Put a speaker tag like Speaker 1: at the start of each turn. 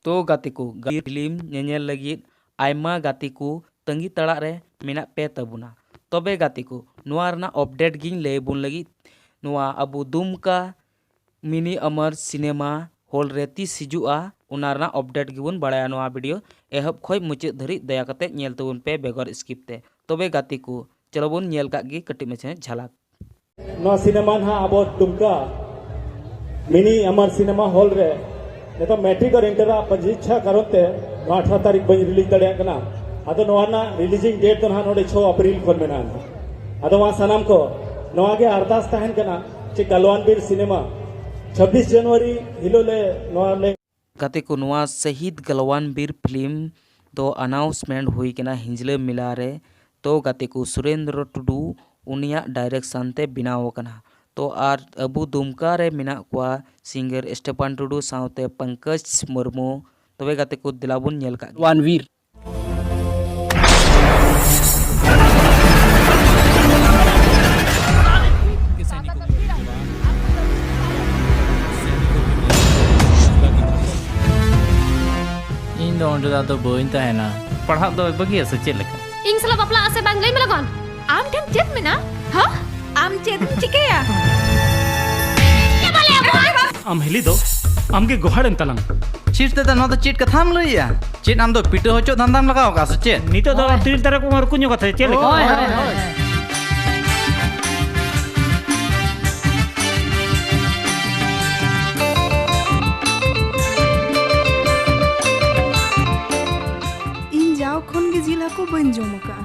Speaker 1: ᱛᱚ ᱜᱟᱛᱮ ᱠᱚ ᱜᱟᱹᱦᱤᱨ ᱯᱷᱤᱞᱢ ᱧᱮᱧᱮᱞ ᱞᱟᱹᱜᱤᱫ ᱟᱭᱢᱟ ᱜᱟᱛᱮ ᱠᱚ ᱛᱟᱺᱜᱤ ᱛᱟᱲᱟᱜ ᱨᱮ ᱢᱮᱱᱟᱜ ᱯᱮ ᱛᱟᱵᱚᱱᱟ ᱛᱚᱵᱮ ᱜᱟᱛᱮ ᱠᱚ ᱱᱚᱣᱟ ᱨᱮᱱᱟᱜ ᱚᱯᱰᱮᱴ ᱜᱤᱧ ᱞᱟᱹᱭ ᱟᱵᱚᱱ ᱞᱟᱹᱜᱤᱫ ᱱᱚᱣᱟ ᱟᱵᱚ ᱫᱩᱢᱠᱟ ᱢᱤᱱᱤ ᱟᱢᱟᱨ ᱥᱤᱱᱮᱢᱟ ᱦᱚᱞ ᱨᱮ ᱛᱤᱥ ᱦᱤᱡᱩᱜᱼᱟ ᱚᱱᱟ ᱨᱮᱱᱟᱜ ᱚᱯᱰᱮᱴ ᱜᱮᱵᱚᱱ ᱵᱟᱲᱟᱭᱟ ᱱᱚᱣᱟ ᱵᱷᱤᱰᱤᱭᱳ ᱮᱦᱚᱵ ᱠᱷᱚᱱ ᱢᱩᱪᱟᱹᱫ ᱫᱷᱟᱹᱨᱤᱡ ᱫᱟᱭᱟ ᱠᱟᱛᱮ ᱧᱮᱞ ᱛᱟᱵᱚᱱ ᱯᱮ ᱵᱮᱜᱚᱨ ᱥᱠᱤᱯ ᱛᱮ ᱛᱚᱵᱮ ᱜᱟᱛᱮ ᱠᱚ ᱪᱚᱞᱚ ᱵᱚᱱ ᱧᱮᱞ ᱠᱟᱜ ᱜᱮ ᱠᱟᱹᱴᱤᱡ ᱢᱟᱪᱷᱟ ᱡᱷᱟᱞᱟᱠ ᱱᱚᱣᱟ ᱥᱤᱱᱮᱢᱟ ᱱᱟᱦᱟᱜ ᱟᱵᱚ ᱫᱩᱢᱠᱟ ᱢᱤᱱᱤ ᱟᱢᱟᱨ ᱥᱤᱱᱮᱢᱟ ᱦᱚᱞ ᱨᱮ ᱱᱤᱛᱚᱜ ᱢᱮᱴᱨᱤᱠ ᱟᱨ ᱤᱱᱴᱟᱨ ᱟᱜ ᱯᱚᱨᱤᱪᱷᱟ ᱠᱟᱨᱚᱱ ᱛᱮ ᱱᱚᱣᱟ ᱟᱴᱷᱟᱨᱚ ᱛᱟᱹᱨᱤᱠᱷ ᱵᱟᱹᱧ ᱨᱤᱞᱤᱡᱽ ᱫᱟᱲᱮᱭᱟᱜ ᱠᱟᱱᱟ ᱟᱫᱚ ᱱᱚᱣᱟ ᱨᱮᱱᱟᱜ ᱨᱤᱞᱤᱡᱤᱝ ᱰᱮᱴ ᱫᱚ ᱱᱟᱦᱟᱜ ᱱᱚᱰᱮ ᱪᱷᱚ ᱟᱯᱨᱤᱞ ᱠᱷᱚᱱ ᱢᱮᱱᱟᱜᱼᱟ ᱟᱫᱚ ᱢᱟ ᱥᱟᱱᱟᱢ ᱠᱚ ᱱᱚᱣᱟ ᱜᱮ ᱟᱨᱫᱟᱥ ᱛᱟᱦᱮᱱ ᱠᱟᱱᱟ ᱪᱮ ᱜᱟᱞᱣᱟᱱ ᱵᱤᱨ ᱥᱤᱱᱮᱢᱟ ᱪᱷᱟᱵᱵᱤᱥ ᱡᱟᱱᱩᱣᱟᱨᱤ ᱦᱤᱞᱳᱜ ᱞᱮ ᱱᱚᱣᱟ ᱞᱮ ᱜᱟᱛᱮ ᱠᱚ ᱱᱚᱣᱟ ᱥᱟᱦᱤᱫᱽ ᱜᱟᱞᱣᱟᱱ ᱵᱤᱨ ᱯᱷᱤᱞᱢ ᱫᱚ ᱟᱱᱟᱣᱩᱥᱢᱮᱱᱴ ᱦᱩᱭ ᱠᱟᱱᱟ ᱦᱤᱸᱡᱽᱞᱟᱹ ᱢᱮᱞᱟ ᱨᱮ ᱛᱚ ᱜᱟᱛᱮ ᱠᱚ ᱥᱩᱨᱮᱱᱫᱽᱨᱚ ᱴᱩᱰᱩ ᱩᱱᱤᱭᱟᱜ ᱰᱟᱭᱨᱮᱠᱥᱟᱱ ᱛᱮ ᱵᱮᱱᱟᱣ ᱟᱠᱟᱱᱟ ᱛᱚ ᱟᱨ ᱟᱵᱚ ᱫᱩᱢᱠᱟ ᱨᱮ ᱢᱮᱱᱟᱜ ᱠᱚᱣᱟ ᱥᱤᱝᱜᱟᱨ ᱥᱴᱮᱯᱷᱟᱱ ᱴᱩᱰᱩ ᱥᱟᱶᱛᱮ ᱯᱟᱝᱠᱟᱡᱽ ᱢᱩᱨᱢᱩ ᱛᱚᱵᱮ ᱜᱟᱛᱮ ᱠᱚ ᱫᱮᱞᱟ ᱵᱚᱱ ᱧᱮᱞ ᱠᱟᱜ ᱜᱮ᱾ ᱜᱟᱞᱣᱟᱱ ᱵᱤᱨ ᱤᱧ ᱫᱚ ᱚᱸᱰᱮ ᱫᱚ ᱟᱫᱚ ᱵᱟᱹᱧ ᱛᱟᱦᱮᱱᱟ ᱯᱟᱲᱦᱟᱜ ᱫᱚ ᱵᱟᱹᱜᱤᱭᱟ ᱥᱮ ᱪᱮᱫ ᱞᱮᱠᱟ ᱤᱧ ᱥᱟᱞᱟᱜ ᱵᱟᱯᱞᱟᱜ ᱟᱥᱮ ᱵᱟᱝ ᱞᱟᱹᱭ ᱢᱮ ᱞᱚᱜᱚᱱ ᱟᱢ ᱴᱷᱮᱱ ᱪᱮᱫ ᱢᱮᱱᱟᱜᱼᱟ? ᱦᱟ? ᱟᱢ ᱪᱮᱫ ᱮᱢ ᱪᱤᱠᱟᱹᱭᱟ? ᱟᱢ ᱦᱤᱞᱤ ᱫᱚ ᱟᱢᱜᱮ ᱜᱚᱦᱟᱲ ᱮᱢ ᱛᱟᱞᱟᱝ ᱪᱷᱤᱴ ᱛᱮᱫᱚ ᱱᱚᱣᱟ ᱫᱚ ᱪᱮᱫ ᱠᱟᱛᱷᱟᱢ ᱞᱟᱹᱭᱟ ᱪᱮᱫ ᱟᱢ ᱫᱚ ᱯᱤᱴᱟᱹ ᱦᱚᱪᱚᱜ ᱫᱷᱟᱱᱫᱟᱢ ᱞᱟᱜᱟᱣ ᱠᱟᱜᱼᱟ ᱥᱮ ᱪᱮᱫ ᱱᱤᱛᱚᱜ ᱫᱚ ᱛᱤᱨ ᱫᱟᱨᱮ ᱠᱚ ᱢᱟᱨᱠᱩ ᱧᱚᱜ ᱠᱟᱛᱮ ᱪᱮᱫ ᱞᱮᱠᱟ ᱤᱧ ᱡᱟᱣ ᱠᱷᱚᱱ ᱜᱮ ᱡᱤᱞ ᱦᱟᱹᱠᱩ ᱵᱟᱹᱧ ᱡᱚᱢ ᱟᱠᱟᱫᱼᱟ